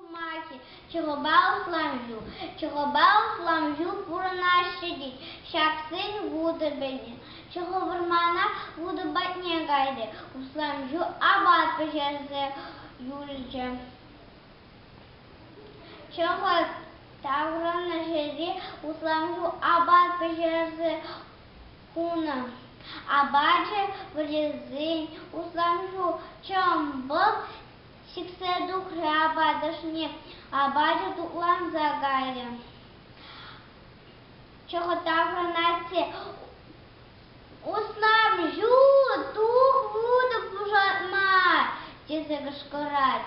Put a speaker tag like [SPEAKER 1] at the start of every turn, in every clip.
[SPEAKER 1] Сӑмахӗ чӑхӑпа усламҫу чӑхӑпа усламҫу пурӑнаҫҫӗ тет ҫаксен вутӑ пӗҫӗ чӑхӑ вӑрмана вутӑ патне кайрӗ усламҫу апат пӗҫерсе юлчӗ чӑхӑ таврӑннӑ ҫӗре усламҫу апат пӗҫерсе хунӑ. Апачӗ вырӑсен усанҫу чӑмпӑл сиксе тухрӗ апатӑшне. Апачӗ тутланса кайрӗ. Чӑхӑтаврӑнать те «Уснам ҫу, тух вутӑ пушатмар!» тесе кӑшкӑрать.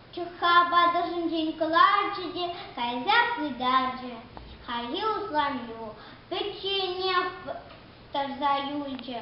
[SPEAKER 1] Чӑхха патӑрҫинчен кӑларчӗ те кайса пытарчӗ. Хайхи усламҫу пӗчченех тӑрса юлчӗ.